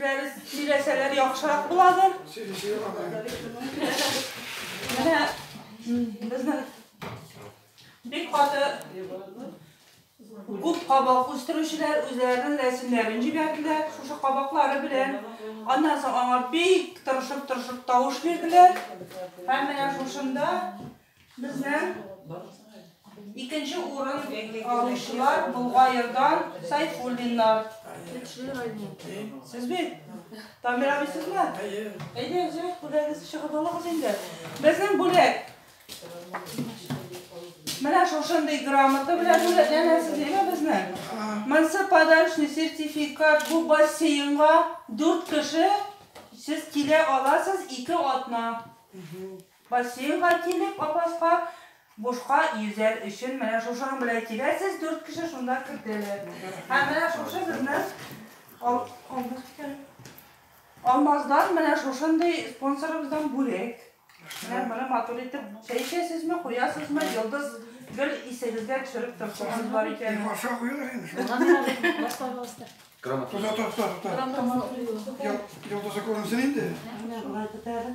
Дәрес сөйләсәләр яхшырак буладыр. Менә безнең бик каты күп кабак үстерүчеләр үзләренең рәсемнәрен җибәрделәр, шушы кабаклары белән. Аннан соң аңа бик тырышып-тырышып тавыш бирделәр. Һәм менә шушында Безнең икенче урын алучылар Болгаердан Сайфуллиннар. Сез бит? Тамир абый сезме? Әйдә, үзегез бүләгез чыгып алыгыз инде. Безнең бүләк. Менә шушындый грамота белән бүләкләнәсез, әйме безне? Монсы подарочный сертификат бу бассейнга 4 кеше сез килә аласыз, 2 атна. Бассейнга килеп, апаска бушка йөзәр өчен менә шушының белән киләсез, дүрт кеше шунда кертәләр. Һәм менә шушы безнең ал, алмаз икән. Алмаздан менә шушындый спонсорыбыздан бүләк. Менә моны матур итеп чәй эчәсезме, куясызмы, йолдыз гел исегезгә төшереп торсагыз бар икән. Баша куйылыр инде шул. Грамота. Туда тот, тот, тот. Йолдызы күренсен инде. Менә шулай бетәр.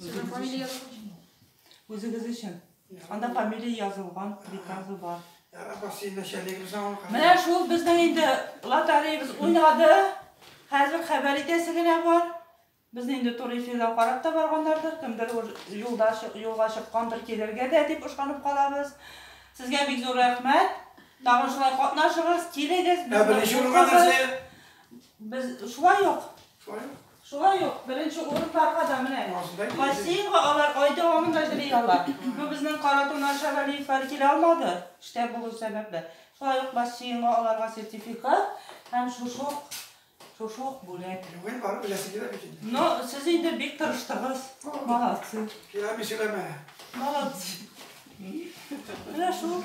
Сезнең фамилия язылган? Үзегез өчен. Анда фамилия язылган, приказы бар. Менә шул безнең инде лотереябез уйнады. Хәзер хәбәр итәсе генә бар. Без инде туры эфирда карап та барганнардыр. Кемдер юлда юлга чыккандыр, килергә дә дип ышанып калабыз. Сезгә бик зур рәхмәт. Тагын шулай катнашыгыз, килегез. Ә беренче урынга нәрсә? Без шулай ук. Шулай ук. Шулай ук беренче урыннарга да менә бассейнга алар ай дәвамында җыри алар. Бу безнең Каратуннан Шәвәлиевләр килә алмады, эштә булу сәбәпле. Шулай ук бассейнга аларга сертификат һәм шушы ук шушы ук бүләк. Бүген барып беләсе килә бит инде. Но сез инде бик тырыштыгыз. Молодцы. Киләме сөйләмә. Молодцы. Менә шул.